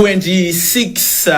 26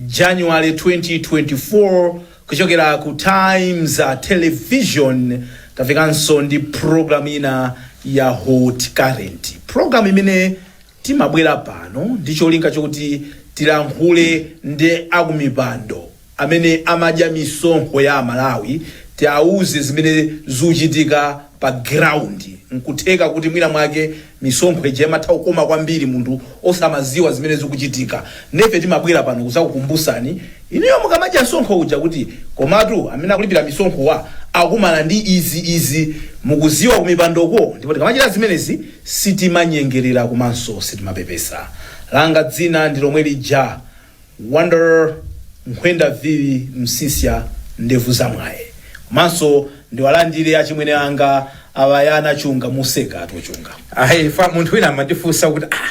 January 2024 kuchokera ku Times Television tafikanso ndi program ina ya Hot Current program imene Timabwera pano ndi cholinga choti tilankhule ndi akumipando amene amadya misonkho ya Amalawi, tiauze zimene zikuchitika pa ground. Nkutheka kuti mwina mwake misonkho ija imatha kukoma kwambiri munthu osamaziwa zimene zikuchitika. Nde ife timabwera pano kuzakukumbusani inuyo mukamadya msonkho uja kuti komatu amene akulipira misonkho wa akumana ndi izi izi. Mukuziwa kumipandoko ndipo tikamachita zimenezi Sitimanyengerera komanso sitimapepesa. Langa dzina ndi lomwe lija, Wonder Nkhwenda Vili Msiska Ndevu Za Mwaye. Komanso ndiwalandire achimwene anga a Bayana Chunga, museka tu Chunga. Ayi, fa, munthu wina amatifunsa kuti ah,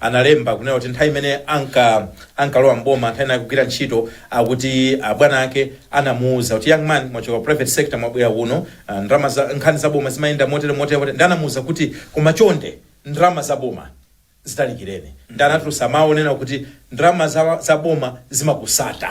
analemba kunena kuti nthawi imene anka ankalowa mboma nthawi inayi kugwira ntchito akuti abwana ake anamuuza kuti young man mwachoka ku private sector mwabwera kuno ah, ndalama za nkhani za boma zimayenda motere motere motere ndi anamuuza kuti koma chonde ndalama za boma zitalikireni ndi anatulusa mawu onena kuti ndalama za, za boma zimakutsata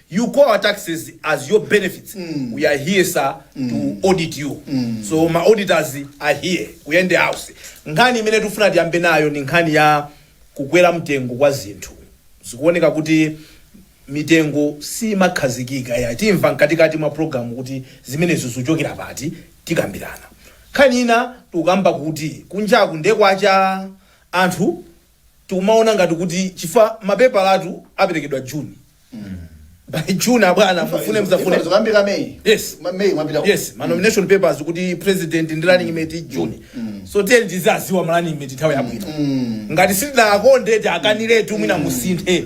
You call our taxes as your benefits we are here sir to audit you so ma auditors are here ku State House nkhani imene tikufuna tiyambe nayo ndi nkhani ya kukwera mtengo kwa zinthu zikuoneka kuti mitengo simakhazikika ya timva mkatikati mwa programu kuti zimenezo zikuchokera pati tikambirana nkhani ina tikukamba kuti kunjaku ndekwacha anthu tikumaona ngati kuti chifukwa mapepalatu aperekedwa june by june abwana mufune msafune zokambira meyi Yes. Ma- meyi mwapita ku- yes ma nomination papers kuti president ndi running mate june so tiyeni tizaziwa ma running mate nthawi yabwino ngati sitinakonde tiwakaniretu mwina musinthe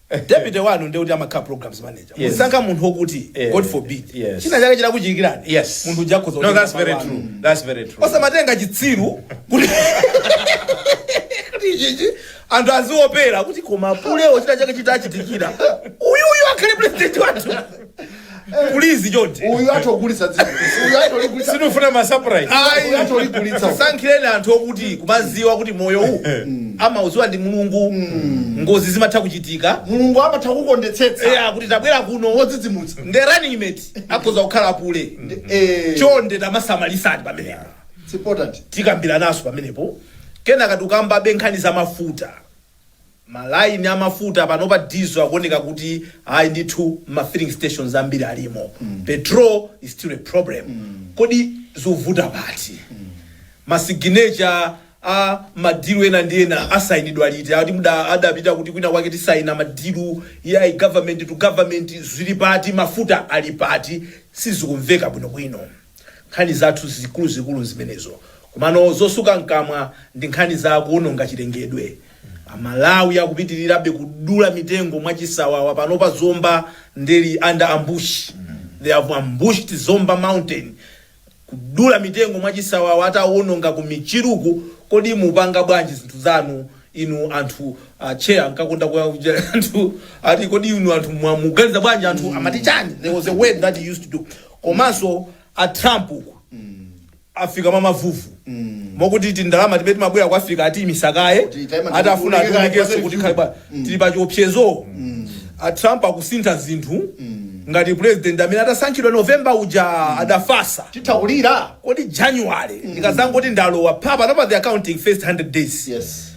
Eh deputy wanu ndiye kuti amakhala programs manager. Yes. Muzisankha munthu okuti Eh, God forbid. yes. China chake chinakuchitikirani. Yes. Munthu uja akhoza. No, kutenga that's very malo true. anu. That's very true. osamatenga chitsiru kuti kuti chichi anthu aziopera kuti koma pulewo china chake chitachitikira uyuyu akhale president wathu Please chonde. uyu atogulitsa dziko uyu atoligulitsa Sinufuna ma surprise. Ayi. Atolikulitsa. Sankhireni anthu okuti kumaziwa kuti moyo uwu amauziwa ndi Mulungu. Ngozi zimatha kuchitika. mulungu amatha kukondetsetsa Eya kuti tabwera kuno. wodzidzimutsa Nde running mate akhoza kukhala apule. Eh, Chonde tamasamalisani pamenepo. it's important Tikambiranaso pamenepo. Kenaka tukambabe nkhani za mafuta. Malaini a mafuta panopa diesel ikuoneka kuti ayi ndithu mma filling stations ambiri ilimo. Petrol is still a problem. Kodi zikuvuta pati? Ma signature a ma deal ena ndi ena asayinidwa liti? Ati muda adapita kuti kwina kwake tikasayina ma deal ya government to government zili pati? Mafuta ali pati? Sizikumveka bwinobwino. Nkhani zathu zikuluzikulu nzimenezo komano zotsuka mkamwa ndi nkhani za kuononga chilengedwe. Amalawi akupitilirabe kudula mitengo mwachisawawa panopa Zomba nde ili under ambush. They have ambushed Zomba mountain. Kudula mitengo mwachisawawa atawononga ku Michiruku kodi mupanga bwanji zinthu zanu inu anthu a Che ankakonda kuyankhula anthu ati kodi inu anthu muganiza bwanji anthu amati chani there was a word that he used to do komanso a trump uku afika mwa mavuvu mokuti tindalama tija timabwera ku Africa atiimitsa kaye Kuti time ati afuna tikulekera ationekenso kwathu kuti tikhale pa- tili pa chiopsezo a trump akusintha zinthu ngati president mmene adasankhidwa novemba uja adafatsa titha kulira kodi january ndikazangoti ndalowa pa panopa they are counting first 100 days yes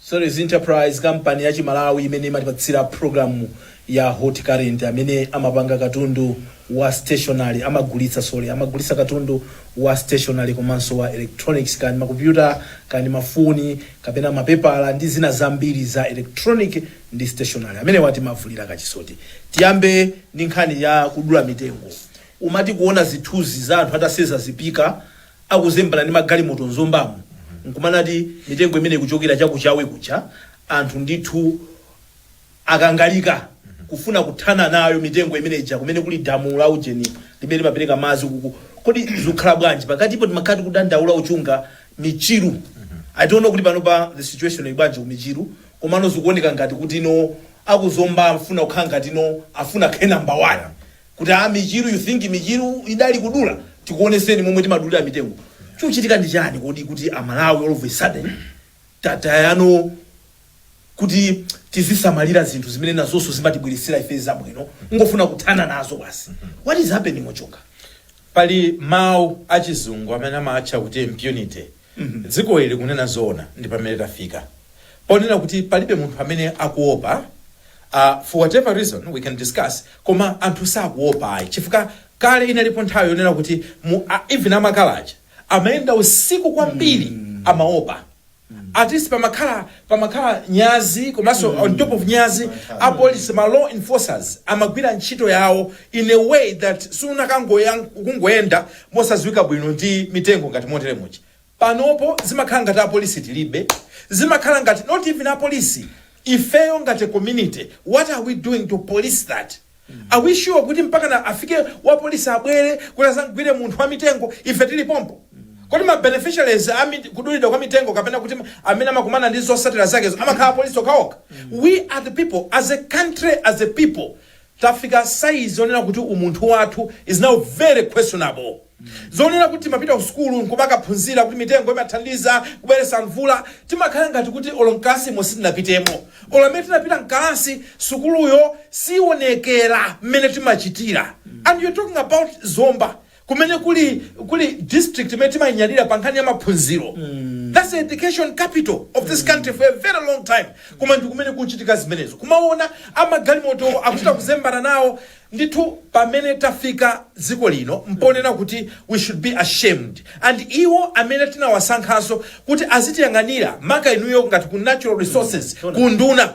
Solis Enterprise kampani ya Chimalawi imene imatipatsira programu ya Hot Current amene amapanga katundu wa stationery amagulitsa sorry amagulitsa katundu wa stationery komanso wa electronics kani makompyuta kani mafoni kapena mapepala ndi zina zambiri za electronic ndi stationery amenewa timawavulira kachisoti tiyambe ndi nkhani ya kudula mitengo umati kuona zithunzi za anthu atasenza zipika akuzembana ndi magalimoto mu zombamu nkumanati mitengo imeneyi ikuchokera cha ku chawe kucha anthu ndithu akangalika kufuna kuthana nayo mitengo imene ija kumene kuli damu la ujeni limene limapereka madzi kuku kodi zikhala bwanji pakatipo timakhala tikudandaula uchunga michiru i don't know kuti panopa the situation ili bwanji ku michiru Komano zikuoneka ngati kuti no aku zomba akufuna kukhala ngati no afuna akhale number 1 kuti aa michiru you think michiru idali kudula tikuoneseni momwe timadulira mitengo chikuchitika ndi chani kodi kuti a Malawi all of a sudden tataya no kuti tizisamalira zinthu zimene nazonso zimatibweretsera ife zabwino kungofuna kuthana nazo basi what is happening ochoka Pali mau achizungu amene amaatcha kuti impunity. Dziko ili kunena zoona ndi pamene tafika ponena kuti palibe munthu amene akuopa a for whatever reason we can discuss koma anthu sakuopa ayi chifukwa kale inalipo nthawi yonena kuti mu a even amakala aja amayenda usiku kwambiri amaopa at least pamakhala pamakhala nyazi komanso on top of nyazi a police ma law enforcers amagwira ntchito yawo in a way that sunakangoyenda kungoyenda mosaziwika bwino ndi mitengo ngati motere muja panopo zimakhala ngati apolisi tilibe zimakhala ngati not even apolisi ifeyo ngati community what are we doing to police that are we sure kuti mpaka na afike wapolisi abwere kuti azamgwire munthu wa mitengo ife tili pompo kodi ma beneficiaries a mit- kudulidwa kwa mitengo kapena kuti amene amakumana ndi zotsatira zakezo amakhala apolisi okhaokha we are the people as a country as a people Tafika size zonena kuti umunthu wathu is now very questionable. Zonena kuti timapita ku sukulu nkumakaphunzira kuti mitengo imathandiza kubweretsa mvula, timakhala ngati kuti olo mkalasimo sitinapitemo. Olo amene tinapita mkalasi, sukuluyo siionekera mmene timachitira. And you're talking about Zomba. kumene kuli kuli district imene timainyadira pa nkhani ya maphunziro that's the education capital of this country for a very long time koma ndi kumene kuchitika zimenezo kumaona amagalimoto akuchita kuzembana nawo ndithu pamene tafika dziko lino mpoonena kuti we should be ashamed and iwo amene tinawasankhanso kuti azitiyang'anira maka inuyo ngati ku natural resources ku nduna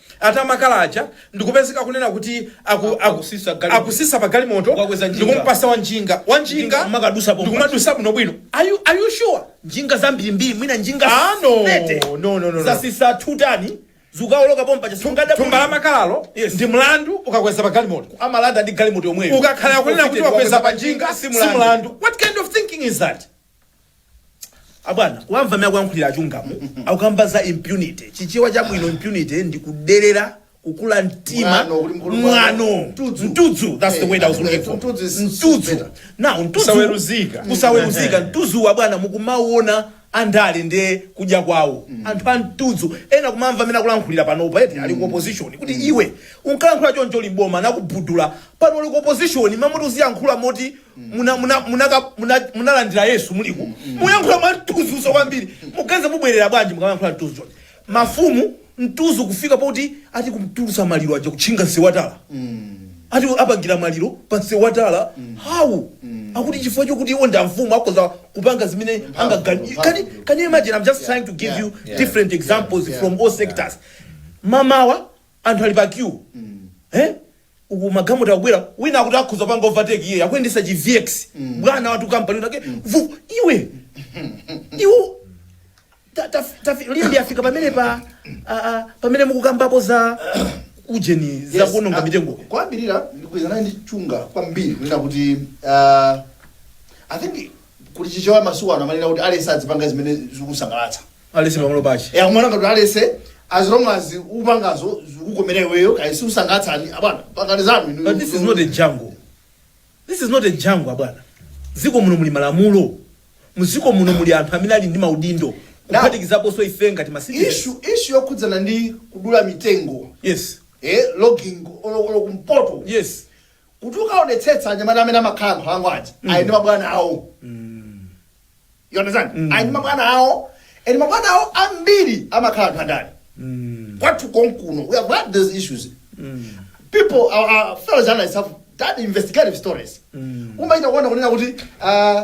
Ati makala aja ndikupezeka akunena kuti aku, aku, Akutsitsa galimoto. akutsitsa pa galimoto Kukakweza njinga. ndikumpatsa wa njinga wa njinga Njinga kumakadutsa pompa. ndikumadutsa bwinobwino are you, are you sure njinga zambirimbiri mwina njinga Ah, no. 30. No, no, no, no. zatsitsa tutani zikawoloka pompa thumba la chasungada makalawo Yes. ndi mlandu ukakweza pa galimoto amalanda ndi galimoto yomweyo ukakhala akunena kuti wakweza pa njinga si mlandu what kind of thinking is that abwana kuwamva mmene akuyankhulira achilungamo akukamba za impunity chichewa chabwino impunity ndi kuderera kukula mtima Mwano, kuti mkulu mwano mwano. Mtudzu. mtudzu that's the Eh, word i was looking for mtudzu is- is mtudzu better. now mtudzu Kusaweruzika. kusaweruzika mtudzu wa bwana mukumaona andale nde kudya kwawo anthu a mtudzu ena kumamva mmene akulankhulira panopa eti ali ku opposition kuti iwe unkalankhula choncho uli mboma nakubudula pano uli ku opposition mmati uziyankhula moti muna- muna- munaka- muna- munalandira yesu muliku mukuyankhula mwa mtudzu kwambiri muganiza mubwerera bwanji mukamayankhula mtudzu chonchi mafumu mtudzu kufika poti ati kumtulutsa maliro aja kutchinga nsewu wa tala ati apangira maliro pa nsewu wa tala hawu akuti chifukwa chokuti iwo ndi amfumu akhoza kupanga zimene angaganize can, you- can you imagine i'm just trying to give you different examples from all sectors mamawa anthu ali pa queue eh uku magalimoto akubwera wina akuti akhoza panga overtake iye akuyendesa chi vx bwana watu kampani winawake vu iwe iwe ta- ta- tafi- lindi afika pamene pa a- a- pamene mukukambapo za ujeni za Yes, kuononga ah, mitengo kwambirira ndikugwirizana ndi Chunga kwambiri kunena kuti ah, i think kuti chichewa masiku ano amanena kuti aliyense azipanga zimene zikumusangalatsa aliyense pamalo pake ya kumwana ngati aliyense as long as ukupangazo zikukomera iweyo kaya sizikusangalatsani abwana pangani zanu inu. but this is not a jungle this is not a jungle abwana m'dziko muno muli malamulo m'dziko muno muli anthu amene ali ndi maudindo kuphatikizaponso ife ngati masitizeni issue issue yokhudzana ndi kudula mitengo yes eh logging olo olo kumpoto yes kuti ukaonetsetsa anyamata amene amakhala nkhalango aja ali ndi mabwana awo You understand? Mm. Ali ndi mabwana awo and mabwana awo ambiri amakhala anthu andale mm. kwathu konkuno we have had those issues mm. people our, our fellow journalists have done investigative stories mm. umachita kuona kunena kuti uh,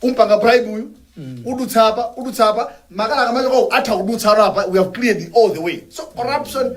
ukampanga bribe uyu mm. udutsa apa udutsa apa makala kumachokako amatha kudutsa ano apa we have cleared all the way so corruption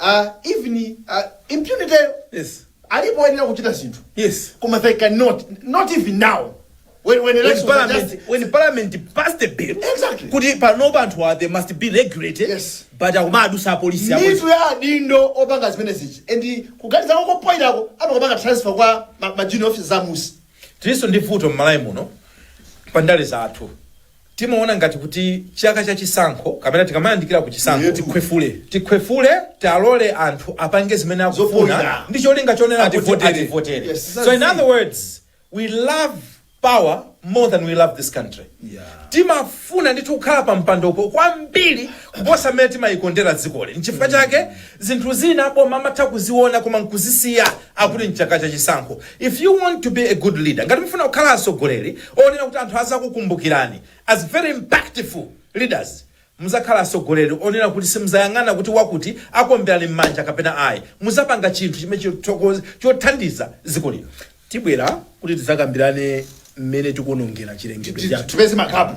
uh, even uh, impunity yo Yes. alipo oyenera kuchita zinthu Yes. koma they cannot not even now when, when When elections are parliament, just when parliament passed the bill, Exactly. kuti pano zinthu are they must be regulated, Yes. but akumadusa apolisi apolisi. mitu ya adindo opanga zimenezi and kuganiza kwako kopoirako akumakapanga transfer kwa ma, ma junior officers a m'munsi Tilinso ndi vuto m'Malawi muno pa ndale zathu. Timaona ngati kuti chaka cha chisankho kapena tikamayandikira ku chisankho Eyetu. tikhwefule tikhwefule tilole anthu apange zimene akufuna Zopoira. ndi cholinga chonena kuti Ativotere. ativotere Yes. so in other words we love power more than we love this country Yeah. timafuna ndithu kukhala pa mpandopo kwambiri kuposa mmene timayikondera dzikoli nchifukwa chake Zinthu zina aboma amatha kuziona koma nkuzisiya akuti n'chaka cha chisankho. If you want to be a good leader, ngati mufuna kukhala atsogoleri onena kuti anthu azakukumbukirani as very impactful leaders, muzakhala atsogoleri onena kuti simuzayang'ana kuti wakuti akuomberani mmanja kapena ayi. Muzapanga chinthu chimene chothandiza dziko lino. Tibwera kuti tidzakambirane mmene tikuonongera chilengedwe chathu. Tipeze ma gap.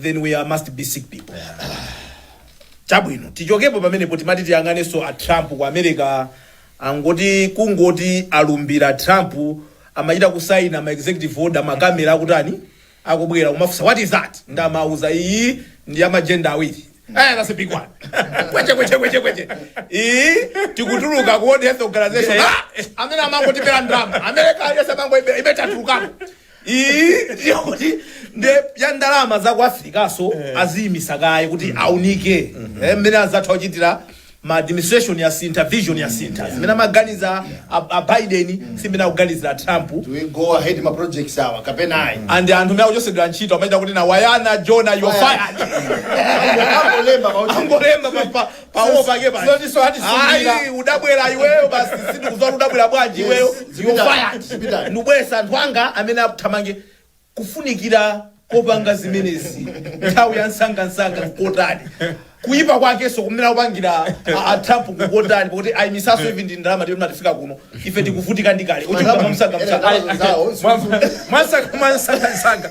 then we are, must be sick people chabwino tichokepo pamenepo timati tiyang'anenso a trump ku america angoti kungoti alumbira trump amachita kusaina ma executive order makamera akutani akubwera kumafunsa what is that ndi amawauza iyi ndi ya ma gender awiri Eh, that's a big one. kweche kweche kweche kweche. Iyi tikutuluka ku World Health Organization. Ah, amene amangotibera ndalama. America yonse amangoibaiba tatulukako. iyi ndiyo kuti nde ya ndalama za ku Afrikaso aziyimisa kaye kuti aunike Eh, mmene azatha kuchitira mm administration yasintha vision yasintha zimene amaganiza a- a Biden si zimene akuganiza a Trump Do we go ahead ma projects awa kapena ayi? and anthu mene akuchotsedwa ntchito amaita kuti na wayana jona you're fired Angolemba pa uchi. angolemba pa- pa- pawo pake pa Zotiso hati zikumbira. ayi udabwera iweyo basi sindikuzola udabwera bwanji Yes, iweyo zipita, you're fired zipita. ndibweretsa anthu anga amene athamange kufunikira kopanga zimenezi nthawi ya msangamsanga n'kotani kuyipa kwakenso kumene akupangira a- a Trump n'kotani pakuti ayimisaso izi ndi ndalama zomatifika kuno ife tikuvutika ndikale uchikama msangamsanga Ena zawo, zikumbira. mwansakamansangasanga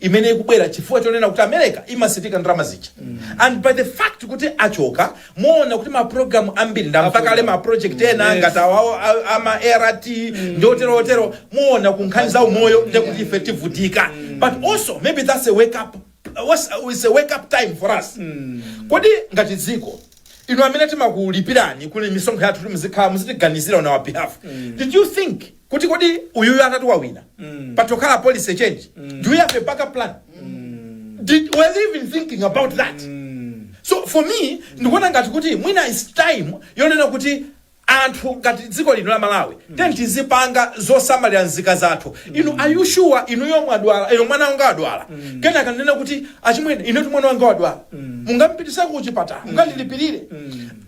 imene ikubwera chifukwa chonena kuti America ikuyimitsa ndalama zija and by the fact kuti achoka muona kuti ma program ambiri ndamva kale ma project ena Yes. ngati awawo a- ama ART ndi otero otero muona ku nkhani za umoyo ndi kuti ife tivutika but also maybe that's a wake up what's, it's a wake up time for us kodi ngati dziko inu amene timakulipirani kuli misonkho yathu kuti muzikhala muzitiganizira on our behalf did you think kuti kodi uyuyu atati wawina mm. patokhala policy change mm. do we have a backup plan mm. Did, were they even thinking about that mm. so for me ndikuona ngati kuti mwina is time yonena kuti anthu ngati dziko lino la malawi mm. then tizipanga zosamalira nzika zathu mm. inu are you sure inu yomwe adwala inu mwana wanga adwala mm. kena akanena kuti achimwene ine tu mwana wanga wadwala mm. mungampititseko kuchipatala mm. mungandilipirire mm.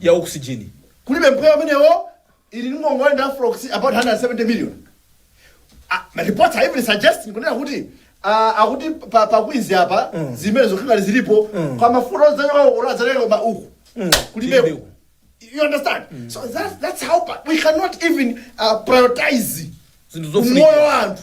ya oxygen. Kulibe mpweya umenewo. Ili ndi ngongole ndi Afrox about 170 million. Ah, ma reports are even suggesting kunena kuti ah, akuti pa, pa Queens apa zimene zoti alipo ka mafuta ozayoka uko ozayoka ma uku. Kulibe. Kulibe. You understand? So that's that's how bad. we cannot even uh, prioritize Zinthu zofunika. umoyo wa anthu.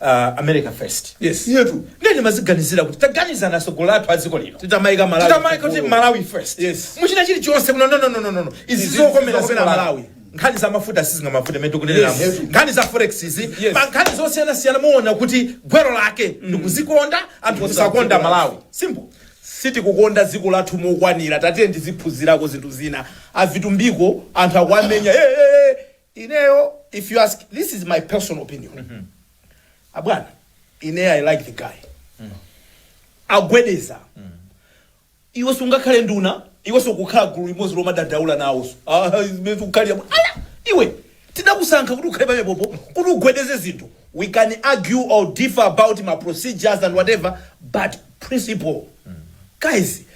uh, america first yes iyetu ndiye ndimadziganizira kuti taganizani atsogoleri athu a dziko lino titamayika Malawi titamayika kuti Malawi first Yes. mu china chilichonse kuno nonononono izi Izi zokomera zokomera dziko Malawi. malawi nkhani za mafuta sizingamavute mene tikuneneramu Yes. nkhani za forex izi Yes. ma nkhani zosiyanasiyana muona kuti gwero lake ndi kudzikonda anthu kusakonda malawi simple sitikukonda dziko lathu mokwanira tatiye tiziphunzirako zinthu zina a Vitumbiko anthu akuwamenya "Eh, eh, eh, Ineyo if you ask this is my personal opinion abwana ine i like the guy agwedeza iwe sungakhale nduna iwe sukukhala gulu limodzi lomadandaula nawonso Ah, iwe sukukhalira mu- Ala! iwe tidakusankha kuti ukhale pamenepopo kuti ugwedeze zinthu we can argue or differ about ma procedures and whatever but principle guys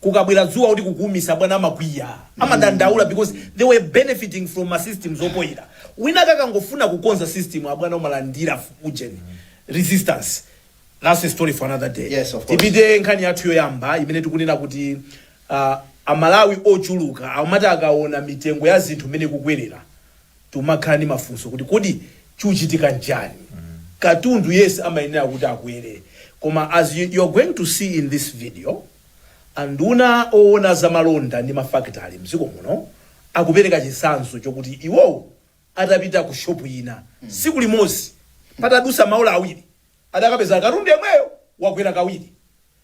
kukabwera dzuwa kuti kukuumisa abwana amakwiya amadandaula because they were benefiting from ma systems opoira wina kakangofuna kukonza system abwana umalandira ujeni resistance that's a story for another day Yes, of course. tipite nkhani yathu yoyamba imene tikunena kuti uh, amalawi ochuluka amati akaona mitengo ya zinthu imene ikukwerera Tumakhala ndi mafunso kuti kodi chikuchitika nchani? Katundu yense amayenera kuti akwere koma as you you're going to see in this video anduna owona za malonda ndi mafakitale mdziko muno akupereka chitsanzo chokuti iwowo atapita ku shop ina tsiku limodzi patadusa maola awiri adakapeza katundu yemweyo wakwera kawiri.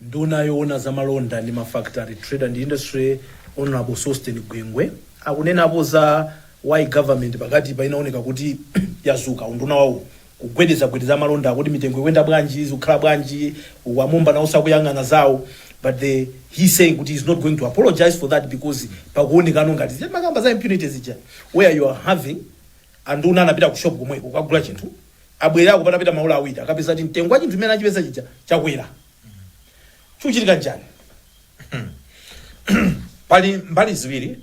Nduna yowona za malonda ndi mafakitale, Trade and Industry, Hon Sosten Gwengwe akunenapo za why government pakatipa inawoneka kuti yadzuka, unduna wawo kugwedezagwedeza amalonda kodi mitengo ikuyenda bwanji, zikukhala bwanji uku, a Mumba nawo sakuyang'ana zawo but the he saying kuti he is not going to apologise for that because pakuwonekano ngati timakamba za impunity zija where you are having Anduna anapita ku shop komweko kukagula chinthu abwerako patapita maola awiri akapeza kuti mtengo wa chinthu chimene anachipeza chija chakwera. Chikuchitika nchani? Pali mbali ziwiri.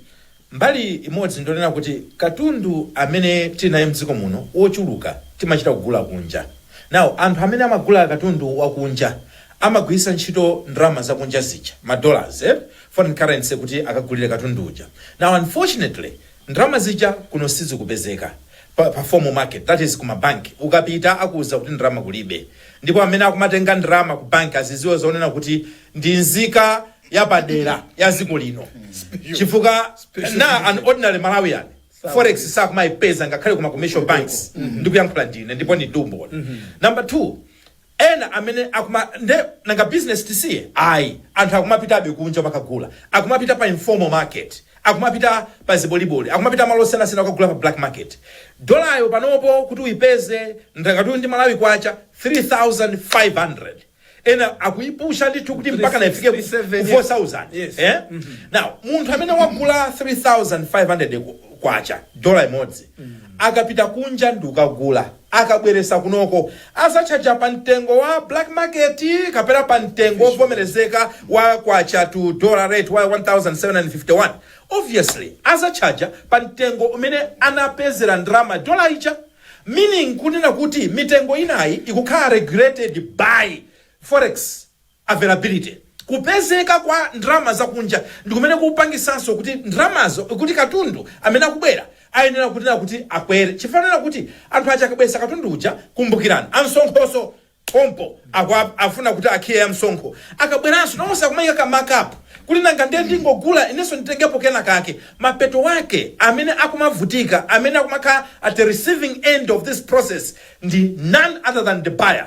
Mbali imodzi ndionena kuti katundu amene tili naye mdziko muno wochuluka timachita kugula kunja. Now anthu amene amagula katundu wakunja amagwiritsa ntchito ndalama zakunja zija, ma dollars, eh, foreign currency kuti akagulire katundu uja. Now unfortunately Ndalama zija kuno sizikupezeka pa, pa formal market that is kuma bank ukapita akuuza kuti ndalama kulibe ndipo amene akumatenga ndalama ku bank aziziwe zonena kuti ndi nzika yapadera ya ziko lino chifukwa na an ordinary Malawian forex sakumaipeza ngakhale kuma commercial banks ndikuyankhula ndine ndipo ndi umboni number 2 Ena amene akuma nde nanga business tisiye? Ayi anthu akumapitabe kunja kukagula, akumapita pa informal market, akumapita pa ziboliboli, akumapita malo osiyanasiyana kukagula pa black market. Dollar-yo panopo kuti uyipeze ndakatuyu ndi Malawi Kwacha 3500 ena akuyipusha ndithu kuti mpakana ifike ku 4000 eeh now munthu amene wagula 3500 Kwacha dollar imodzi akapita kunja ndikukagula. Akabweresa kunoko azatchaja pa mtengo wa black market kapena pa mtengo ovomerezeka wa kwacha to dollar rate wa 1751? Obviously azatchaja pa mtengo umene anapezera ndalama dollar ija. Meaning kunena kuti mitengo inayi ikukhala regulated by forex. availability, kupezeka kwa ndalama zakunja, ndi kumene kukupangitsanso kuti ndalamazo, kuti katundu amene akubwera ayenera kunena kuti akwere chifukwa anena kuti anthu aja akabweretsa katundu uja, kumbukirani amsonkhonso pompo akufuna kuti akhiliye msonkho, akabweranso nawonso akumaika ka mark up kuti nanga ndiye ndingogula inenso nditengepo kenakake, mapeto ake amene akumavutika, amene akumakhala at the receiving end of this process ndi none other than the buyer.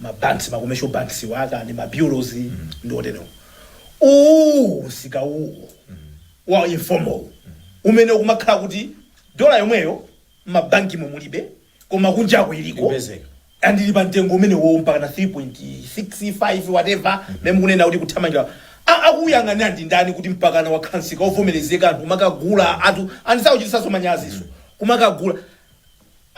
ma banks ma commercial banks wa kaya ndi ma bureaus ndi oterewo uwu msika uwu wa informal umene ukumakhala kuti dola yomweyo mabankimo mulibe koma kunjako iliko Ipezeka. and ili pa mtengo umenewo mpaka na 3.65 whatever mene mukunena kuti kuthamangira A- akuyang'anira ndi ndani kuti mpakana wakhansika ovomerezeka anthu kumakagula anthu and sakuchitanso manyazinso kumakagula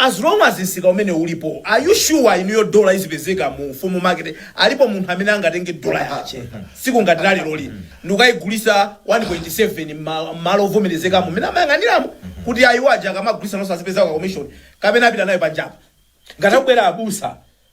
As long as msika umenewo ulipo are you sure inuyo dollar izipezeka mu formal market alipo munthu amene angatenge dollar yake tsiku ngati la leroli n'kukayigulitsa 1.7 mma- mmalo ovomerezekamo mmene amayang'aniramo kuti ayi awo aja akamagulitsa nawonso azipezako commission kapena apita nayo panjapa ngati akubwera abusa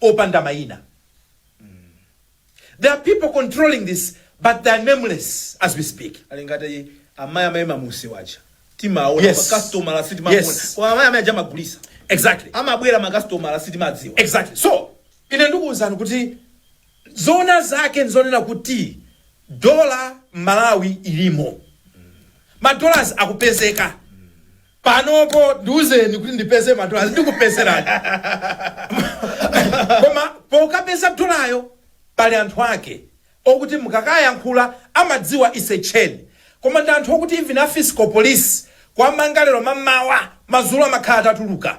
opanda maina there are people controlling this but they are nameless as we speak ali ngati amayi amayi mamuziwatcha timaona Yes. makasitomala Yes. sitimaona koma amayi amayi aja amagulitsa exactly amabwera makasitomala sitimadziwa exactly so ine ndikuwuzani kuti zona zake nzonena kuti dola m'Malawi ilimo madollars akupezeka panopo ndiuzeni kuti ndipeze madolars ndikupezerani koma pokapeza dolayo pali anthu ake okuti mukakayankhula amadziwa ise chain koma ndi anthu okuti even a fiscal police kuwamanga lero mamawa madzulo amakhala atatuluka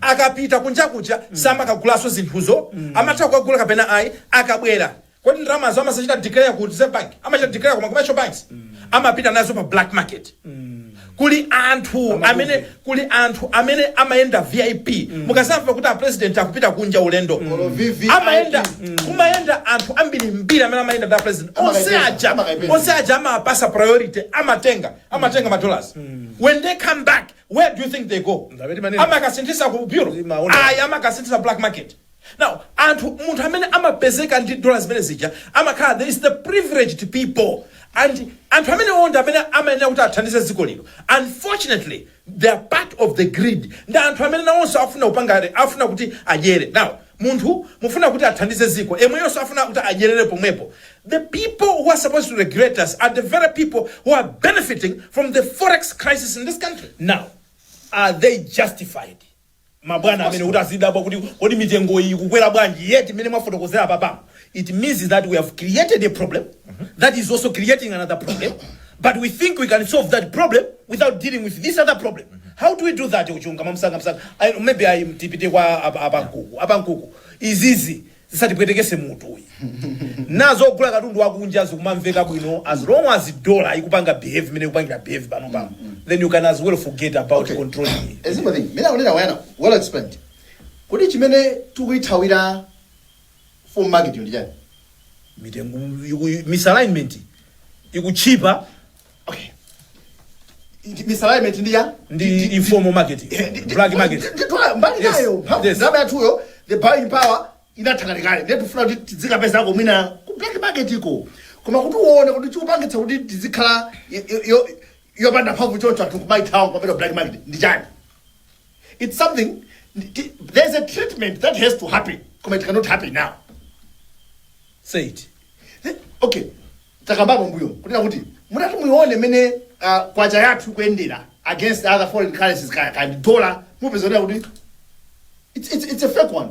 akapita kunja kuja samakagulanso zinthuzo, amatha kukagula kapena ayi, akabwera kodi ndalamazo amadzachita declare ku Reserve Bank? Amachita declare ku ma commercial banks? Amapita nazo pa black market. Kuli anthu amene kuli anthu amene amayenda VIP. Mukadzamva kuti a president akupita kunja ulendo. Olo VVIP. Amayenda kumayenda anthu ambirimbiri amene amayenda ndi a president. Onse Amakaipeza, aja amakaipeza. onse aja amapatsidwa priority amatenga amatenga ma dollars. When they come back where do you think they go amakasinthitsa ku bureau ayi amakasinthitsa black market now anthu munthu amene amapezeka ndi dola zimenezija amakhala these are the privileged people and anthu amenewo ndi amene amayenera kuti athandize dziko lino unfortunately they are part of the greed ndi anthu amene nawonso akufuna kupanga afuna kuti adyere nawo Munthu mukufuna kuti athandize dziko yemweyonso afuna kuti adyerere pomwepo the people who are supposed to regulate us are the very people who are benefiting from the forex crisis in this country. Now are they justified mabwana amenewo kuti azidabwa kuti kodi mitengoyi ikukwera bwanji yet mmene mwafotokozera apapamu It means that we have created a problem that is also creating another problem, but we think we can solve that problem without dealing with this other problem. How do we do that, Uchunga? Mamsanga, msanga. I, maybe I tipite kwa ab- abankuku. Abankuku. Izizi. zisatipwetekese mutu uyi nazo ogula katundu wakunja zikumamveka bwino as long as dollar ikupanga behave imene ikupangira behave pano pano then you can as well forget about Okay. controlling it. ezimbabwe mina kunena wayana well explained kuti chimene tikuithawira full market ndi chani mitengo iku- misalignment ikutchipa okay Ndi- misalignment ndi ya ndi informal market black market mbali Yes, nayo mphamvu yes. ndalama yathuyo the buying power inatha kalekale ndiye tifuna kuti tidzikapezako mwina ku black market iko koma kuti uone kuti chikupangitsa kuti tizikhala yo- yo- yo- yopanda mphamvu choncho anthu kumayithawa kumapita ku black market ndi chani it's something ti- there's a treatment that has to happen koma it cannot happen now Say it. Eh, okay takambapo mbuyo kunena kuti mutati muione mmene ah, kwacha yathu ikuyendera against other foreign currencies ka- ka ndi dollar mupeza kunena kuti it's, it's, it's a fake one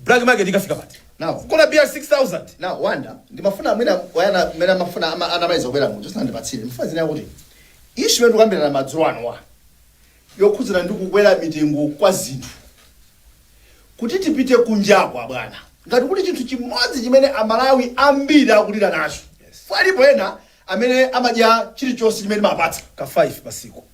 Black market ikafika pati? Now. Kugula beer ya 6000. Now Wanda, ndimafuna mwina Wayana mmene amafuna ama anamaliza kubera munthu sandipatsire. Chifukwa zina kuti issue ya tikukambirana madzulo anowa yokhudzana ndi kukwera mitengo kwa zinthu kuti tipite kunjaku abwana ngati kuli chinthu chimodzi chimene amalawi ambiri akulira nacho alipo ena amene amadya chilichonse chimene mwawapatsa Ka 5 pasiku.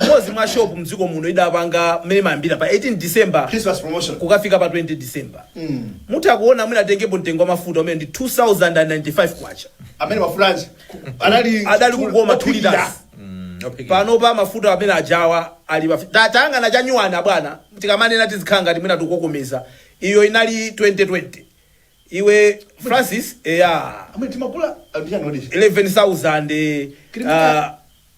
Mmodzi mwa shop mdziko muno idapanga mmene imayambira pa 18 December Christmas promotion. kukafika pa 20 December. Mutha kuona mwina atengepo mtengo wa mafuta umene ndi 2095 kwacha. Amene mafulanji anali Adali kukoma two ophikira. liters. Pano pa mafuta amenewa ajawa ali pa ta- tayang'ana chenicheni abwana tikamanena tizikhala ngati mwina tikukokomeza. Iyo inali 2020. Iwe Francis eya Amene timagula amene anodisha. 11,000 eh, Kiri ah,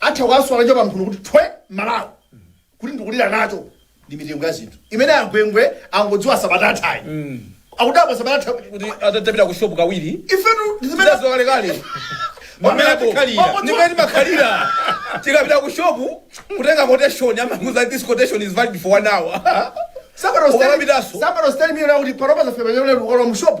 Atha kuwaswa nacho pamphuno kuti thwe m'Malawi kuti ndikulira nacho ndi mitengo ya zinthu imene a Gwengwe angodziwa sabata yathayi. Akudabwa sabata yatha kuti atapita ku shop kawiri. Ifetu ndi zimene tidadziwa kale kale. Mwamene Mwamene tikhalira. Mwamene Ndimene timakhalira. Tikapita ku shop kutenga quotation amakuuza this quotation is valid for one hour. Somebody was telling, Ukapitaso. somebody was telling me kuti panopa zafika penapake lero ukalowa mu shop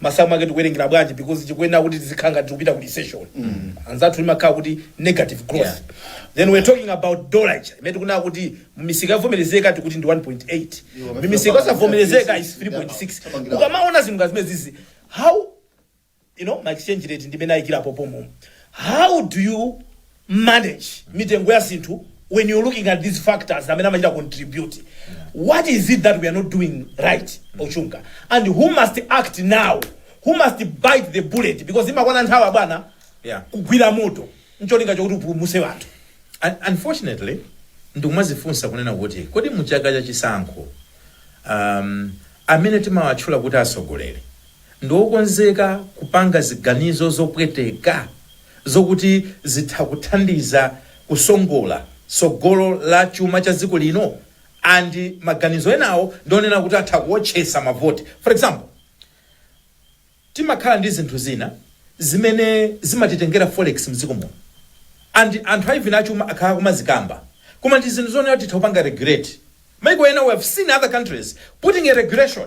masamu ake tikuwerengera bwanji because tikuyenera kuti tizikhala ngati tikupita ku recession anzathu imakhala kuti negative growth Yeah. then we're talking about dollar ija imene tikunena kuti mumisika yovomerezeka tikuti ndi 1.8 mimisika yosavomerezeka is 3.6 ukamaona zinthu ngati zimenezizi how you know ma exchange rate ndimene ayikirapo pomwe how do you manage mitengo ya zinthu when you're looking at these factors amene amachita contribute what is it that we are not doing right okay and who must act now who must bite the bullet because imakwana nthawi abwana Yeah. kugwira moto ncholinga chokuti upulumuse wanthu Un- unfortunately ndikumazifunsa kunena kuti kodi muchaka cha chisankho um, amene timawatchula kuti atsogoleri ndi okonzeka kupanga ziganizo zopweteka zokuti zitha kuthandiza kusongola tsogolo la chuma cha dziko lino and maganizo enawo ndi onena kuti atha kuotchesa mavoti for example, timakhala ndi zinthu zina zimene zimatitengera forex mdziko muno and anthu even achuma akhala akumazikamba koma ndi zinthu zonena kuti titha kupanga regulate maiko ena we have seen other countries putting a regulation.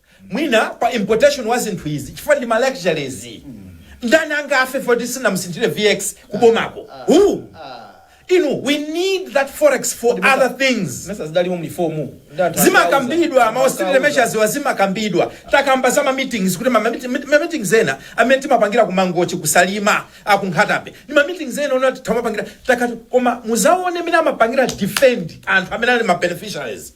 mwina pa importation ya zinthu izi chifukwa ndi ma luxuries ndani angafe poti sanamusinthire vx kubomako who inu we need that forex for other things mmesa zidalimo mu reform ndi anthu zimakambidwa ma austerity measures wa zimakambidwa takamba za ma meetings kuti ma meet- meet- ma meetings ena amene timapangira ku mangochi kusalima kunkhatabay ndi ma meetings ena ona timapangira takati koma muzaone amene amapangira defend anthu amene ali ma beneficiaries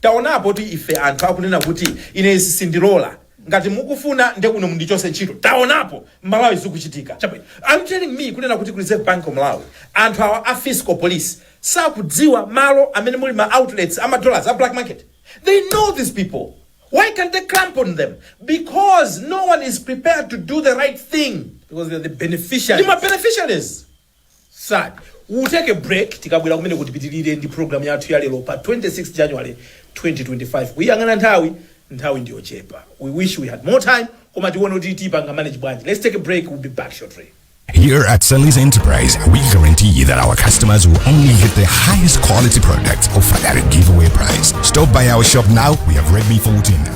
Taonapo ife anthu akunena kuti ine izi sindilola ngati mukufuna nde kuno mundichotse ntchito taonapo mmalawi zikuchitika chabwino are you telling me kunena kuti ku reserve bank of malawi anthu awa a fiscal police sakudziwa malo amene muli ma outlets a ma dollars a black market they know these people why can't they clamp on them because no one is prepared to do the right thing because they are the ndi ma beneficiaries beneficiaries Sad. We will take a break tikabwera kumeneko tipitilire ndi program yathu ya lero pa 26 January 2025. Kuyang'ana nthawi, nthawi ndiyochepa. We wish we had more time koma tione kuti tipanga manage bwanji. Let's take a break, we'll be back shortly. Here at Sally's Enterprise, we guarantee that our customers will only get the highest quality products offered at a giveaway price. Stop by our shop now. We have Redmi 14,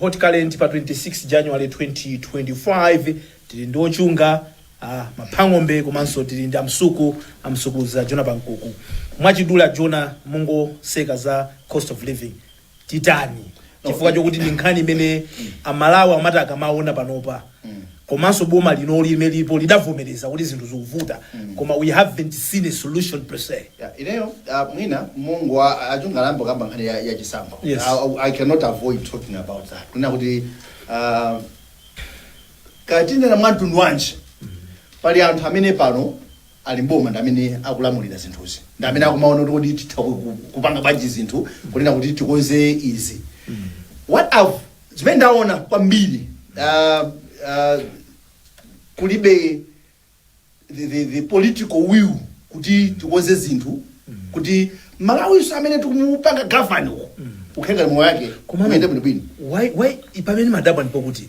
Hot current pa 26 January 2025 tili ndi ochunga Maphang'ombe komanso tili ndi amsuku amsukuluza Jona Pankuku mwachidule a Jona mungotseka za cost of living titani chifukwa chokuti ndi nkhani imene amalawi amati akamaona panopa komanso boma linoli limene lilipo lidavomereza kuti zinthu zikuvuta koma we haven't seen a solution per se Yeah, ineyo uh, mwina m'mene wa- achunga ayamba kukamba nkhani ya, ya chisankho Yes. I, I cannot avoid talking about that kunena kuti uh, tikanena mwa mtundu wanji pali anthu amene pano ali m'boma ndi amene akulamulira zinthuzi ndi amene akumaona kuti kodi titha ku- ku- kupanga bwanji zinthu kunena kuti tikonze izi what I've, zimene ndaona kwambiri uh, uh, kulibe the, the, the political will kuti tikonze zinthu kuti mmalawinso amene tikumupanga govern uko akhaleko ndi moyo wake Komano- umene bwinobwino why why pamene ndimadabwa ndi pokuti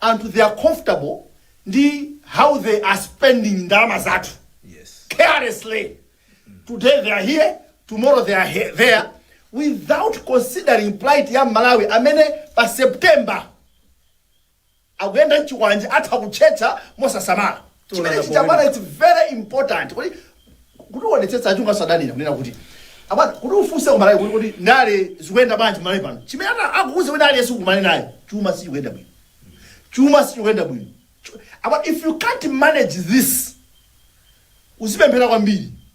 anthu they are comfortable ndi how they are spending ndalama zathu yes. carelessly mm. today they are here tomorrow they are here, there without considering plight ya mmalawi amene pa september akuyenda nchikwanje atha kutchetcha mosasamala chimenechi abwana its very important kuti kuti tionetsetse achunga sadanira kunena kuti abwana kuti ufunse kumalawi kuti kuti ndale zikuyenda bwanji kumalawi pano chimene ana- angakuuze wina aliyense ukumane naye chuma sichikuyenda bwino chuma sichikuyenda bwino Chu- abwana if you can't manage this uzipemphera kwambiri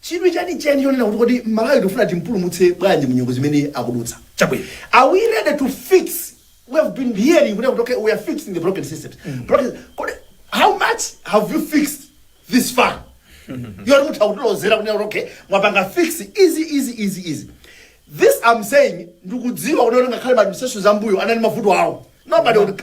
chidwi chenicheni chonena kuti kodi Malawi tikufuna timpulumutse bwanji mu nyengo zimene akudutsa? Chabwino. Are we ready to fix, we have been hearing kunena kuti okay we are fixing the broken systems. Broken, kodi how much have you fixed this far? Yoti mutha kutilozera kunena kuti okay mwapanga fix izi izi izi izi. This I'm saying ndikudziwa kuti ngakhale ma administrations ambuyo anali mavuto awo. Nobody would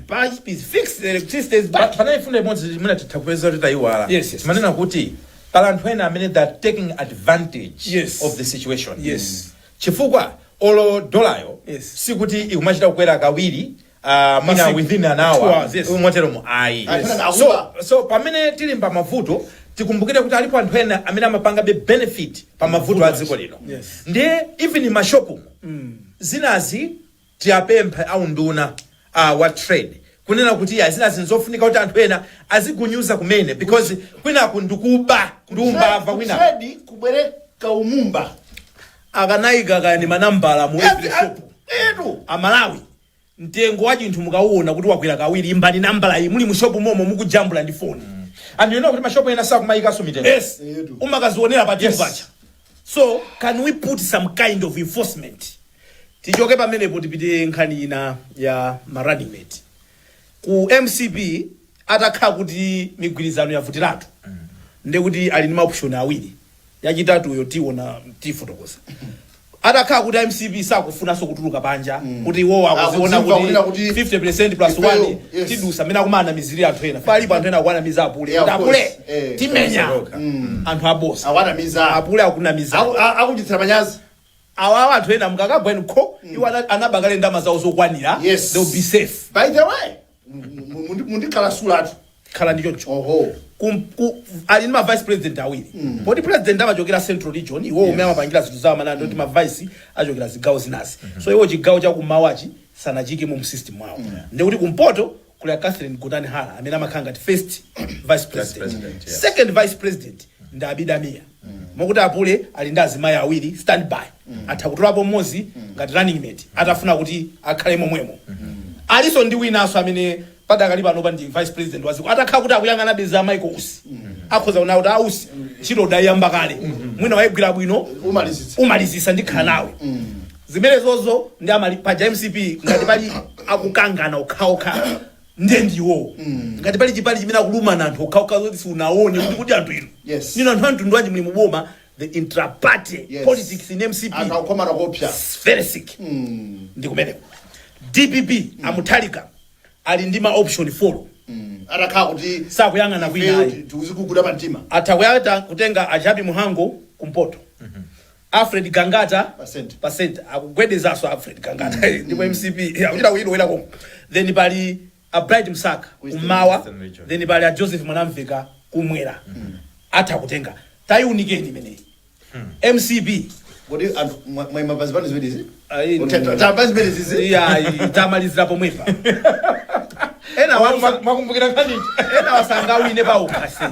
Pipes is fixed, the electricity is back. panali mfundo imodzi imene titha kupeza kuti tayiwala Yes, yes. mumanena kuti pali anthu ena amene they are taking advantage Yes. of the situation Yes. chifukwa olo dolayo Yes. sikuti ikumachita kukwera kawiri uh, mwina Masiku. within an Two hour hours, yes. motero mu ayi Yes. so, so pamene tili pa mavuto tikumbukire kuti alipo anthu ena amene amapangabe benefit pa mavuto a dziko lino Yes. ndiye even mashopu zinazi Tiapemphe a unduna a wa trade kunena kuti iyayi zinazi nzofunika kuti anthu ena azigunyuza kumene because kwinaku ndikuba ndi umbava kwinaku. Ku trade kubwere kaumbava. Akanaika kaya ndi manambala mu every Yes, shop. ah, etu. Amalawi mtengo wa chinthu mukauona kuti wakwera kawiri imbani nambala iyi muli mu shop momo mukujambula ndi phone. And you know kuti ma shop ena sakumayikanso mitengo. Yes. Etu. Umakazionera pa till Yes. pacha. So can we put some kind of enforcement? Tichoke pamenepo tipite nkhani ina ya ma running mate. Ku MCP atakhala kuti migwirizano yavutiratu. Ndiye kuti ali ndi maoption awiri. Yachitatuyo tiona tifotokoza. Atakhala kuti a MCP sakufunanso kutuluka panja kuti iwo akuziona Akudziwa kunena kuti kuti 50% plus Ifeyo, 1 yes. tidusa amene akumanamiziri anthu ena. Palipo anthu ena akuwanamiza apule. Yeah, Kuti of course. apule. Eh. timenya Saroka. Mm. anthu abodza Awanamiza. apule akunamiza Aku- a- Akuchitira manyazi. awawa anthu ena mukakagwa inu kho iwo ana- anaba kale ndama zawo zokwanira Yes. they'll be safe By the way, mundi- mundikhalitsatu. khala ndi choncho Oho. Kum- ku- ali ndi mavice president awiri poti president amachokera central region iwo umene amapangira zinthu zawo amanena kuti mavice achokera zigawo zinazi so iwo chigawo chakumawachi sanachiike mu system mwawo ndiye kuti kumpoto kuli a Catherine Gotani Hara amene amakhala ngati first vice Vice president president, yes. second vice president ndi Abida Mia mokuti apule ali ndi azimayi awiri standby atha kutolapo mmodzi ngati running mate atafuna kuti akhale momwemo alinso ndi winanso amene padakali panopa ndi vice president wa dziko atakhala kuti akuyang'ana beza a Michael Usi akhoza kuona kuti a Usi ntchito udayiyamba kale mwina wayigwira bwino Umalizitsa. umalizitsa ndikhala nawe Zimenezozo ndi amali paja mcp ngati pali akukangana okhaokha ndiye ndi iwowo ngati pali chipani chimene akulumana anthu okhaokha zoti siunaone kuti kuti anthu inu Yes. inu anthu amtundu wanji muli muboma the intraparty Yes. politics in mcp anthu akukomana koopsa very sick ndi kumeneko dpp a mutharika ali ndi ma option 4 atakhala kuti sakuyang'ana kwina ayi tikuziguguda pa mtima atha kuyata kutenga a jappie mhango kumpoto Alfred Gangata Pa center. pa center akugwedezaso Alfred Gangata ndipo MCP akuchita kuyilowera koma then pali a Bright Msaka Eastern- kummawa Eastern region. then pali a Joseph Mwanamveka kumwera atha kutenga tayiunikeni imeneyi MCP Kodi anthu mwa- mwaima pa zipani ziwiri izi? Ayi, Kuti no. ta- pa zipani izi? iyayi tamalizira pomwepa ena wanu Mwakumbukira nkhani. enawa sangawine pa ukhansala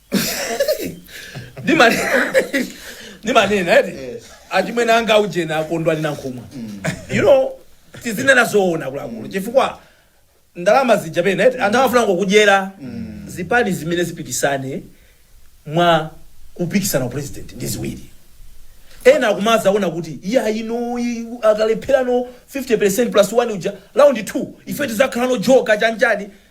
Ndimane- ndimanena eti Yes. achimwene anga ujena a kondwani nankhumwa you know tizinena zoona akuluakulu chifukwa ndalama zija pena eti anthu amafuna ngokudyera zipani zimene zipikisane mwa kupikisana upresident ndi ziwiri ena akumazaona kuti iya ino i- akalepherano 50 plus 1 uja round 2 ife tizakhalano joker chanjani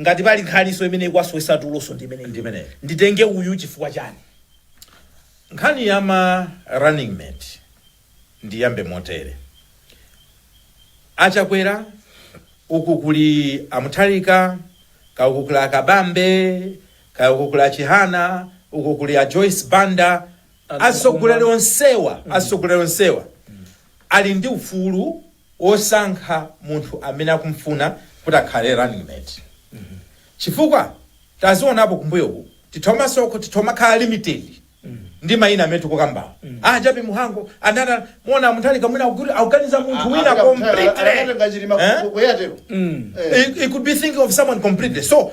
Ngati pali nkhaninso imene ikuwasowetsa tuloso ndi imeneyi. Ndi imeneyo. Nditenge uyu chifukwa chani? Nkhani ya ma running mate ndiyambe motere. A Chakwera, uku kuli a Mutharika, kaya uku kuli a Kabambe, kaya uku kuli a Chihana, uku kuli a Joyce Banda, atsogoleri onsewa atsogoleri onsewa ali ndi ufulu osankha munthu amene akumfuna kuti akhale running mate chifukwa tazionapo kumbuyoku tithomasoko- tithomakhala limited ndi mayina amene tikukambawo a jappie mhango anana muona mutharika mwina akuti- akuganiza munthu wina completely Eh? He, he could be thinking of someone completely. So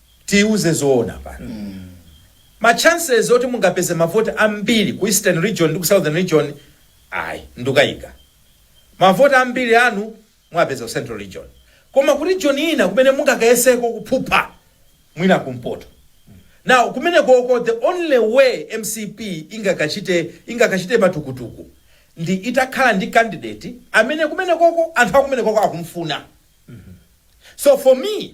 tiuze zoona pano ma chances oti mungapeze mavoti ambiri ku eastern region ndi ku southern region ayi ndukayika mavoti ambiri anu mwapeza ku central region koma ku region ina kumene mungakayeseko kuphupha mwina kumpoto now kumenekoko the only way mcp ingakachite ingakachite matukutuku ndi itakhala ndi candidate amene kumenekoko anthu akumenekoko akumfuna so for me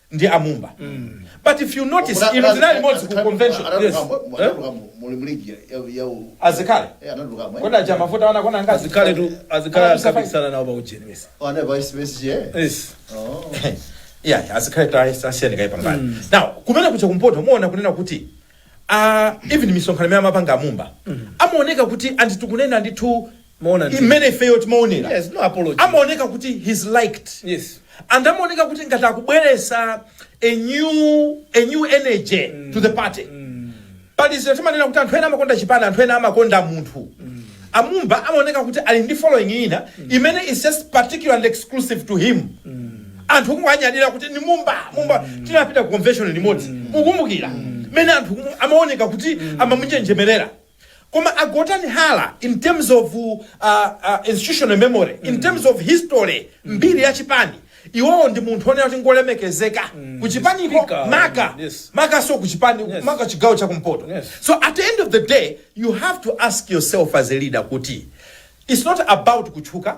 ndi a mumba but if you notice inu tinali limodzi ku convention yes Eh? a zikhale kodi aja mafuta wana kona ngazi a zikhaletu a zikhale Ana msafa- akapikisana nawo pa ujeni mesa yes yeah a zikhaletu ayes- asiyeni kaye pambali now kumene kuja kumpoto muona kunena kuti uh, even misonkhano imene amapanga amumba amaoneka kuti anthu tikunena ndithu Mwaona ndi? imene ifeyo timaonera Yes, no apology. amaoneka kuti he's liked Yes. and amaoneka kuti ngati akubweretsa a new, a new energy to the party pali zinthu timanena kuti anthu ena amakonda chipani anthu ena amakonda munthu a Mumba amaoneka kuti ali ndi following ina imene is just particular and exclusive to him anthu kumwanyadira kuti ndi Mumba Mumba tinapita ku convention limodzi mukumbukira mene anthu kumu- amaoneka kuti amamunjenjemerera Koma a Gotani Hara in terms of institutional memory, in terms of history, mbiri ya chipani, iwowo ndi munthu onena kuti ngolemekezeka ku chipaniko makamakanso ku chipani maka chigawo cha kumpoto. So at the end of the day you have to ask yourself as a leader kuti it's not about kutchuka,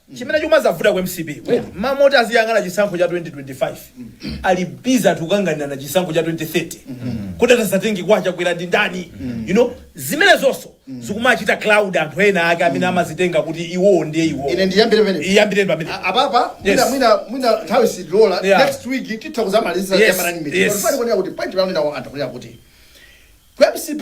Chimene chikumazavuta ku mcp mmalo moti aziyang'ana chisankho cha 2025 ali busy ati kukanganirana chisankho cha 2030 kuti atadzatenge kwa Chakwera ndi ndani you know zimenezonso zikumachita cloud anthu ena ake amene amadzitenga kuti iwowo ndiye iwowo ine ndiyambire pamene iyambireni pamene A- apapa Yes. mwina mwina mwina nthawi sidilola Yeah. next week titha kuzamaliza Yes, ya running mate yes. pali kuonera kuti point imene nawo anthu kunena kuti ku mcp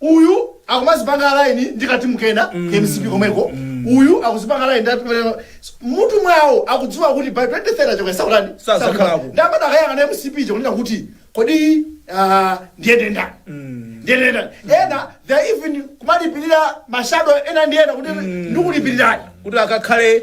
Uyu akumadzipanga align ndi ka team kena ku mcp komweko, uyu akudzipanga align ndi ati- Mmutu mwawo akudziwa kuti by 2030 Chakwera sadzatani? Sadzakhalako. Ndi amati akayang'ana mcp ija kunena kuti kodi ah, ndiyende ndi ndani? Ndiyende ndi ndani? Ena they are even kumalipirira mashado ena ndi ena kuti ndikulipirirani. kuti akakhale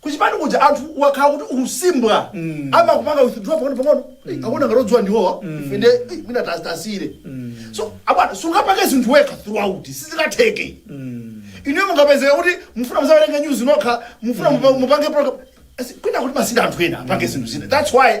Kuchipani kuja anthu wakhala kuti ukusimbwa amakupanga withdraw pang'ono pang'ono Eh, akuona ngati odziwa ndiwowa ife nde eh, mwina tas- tasiyire so bwana sungapange zinthu wekha throughout sizikatheke inuyo mungapezeka kuti mufuna mudzawerenge news nokha mufuna mupa- mupange program Asi, kwina kuti mwasiya anthu ena apange zinthu zina that's why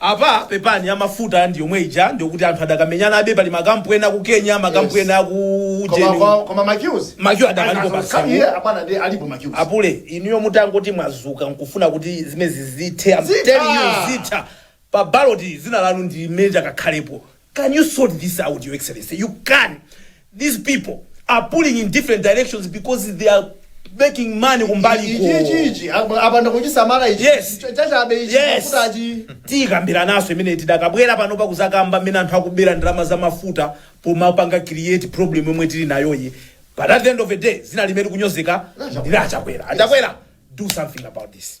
Apa pepani ya mafuta ndi yomwe ija ndikuti anthu adakamenyanabe pali ma camp ena a ku Kenya ma camp Yes. ena aku Koma cheni kwa- koma ma queues. Ma queues adakalipo Ana- basi. Kani iye abana ndi alipo ma queues. a Pule inuyo mutangoti mwazuka nkufuna kuti zimenezi zithe I'm Zitha. telling you zitha pa baloti dzina lanu ndi meja kakhalepo Can you sort this out, Your Excellency? You can. These people are pulling in different directions because they are making money kumbaliko ichi ichi ichi apa- apanda kuchisamala ichi Yes. Ch- chachabe ichi Yes. kuti achi tidzakambirananso imene tidzakabwera pano pakudzakamba mmene anthu akubera ndalama za mafuta pomapanga create problem yomwe tili nayoyi but at the end of the day dzina limene likunyozeka ndi la a Chakwera a Chakwera do something about this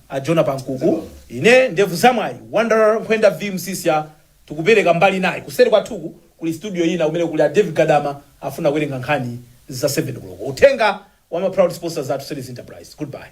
A Jona Pamkuku, Ine ndevu zamwayi, Wanderer Nkhwenda V Msisya tikupeleka mbali inayi. Kuseri kwathu ku kuli studio ina kumene kuli a Dave Gadama akufuna kuwerenga nkhani za 7 koloko. Uthenga wa ma proud sponsors athu Series Enterprise. Goodbye.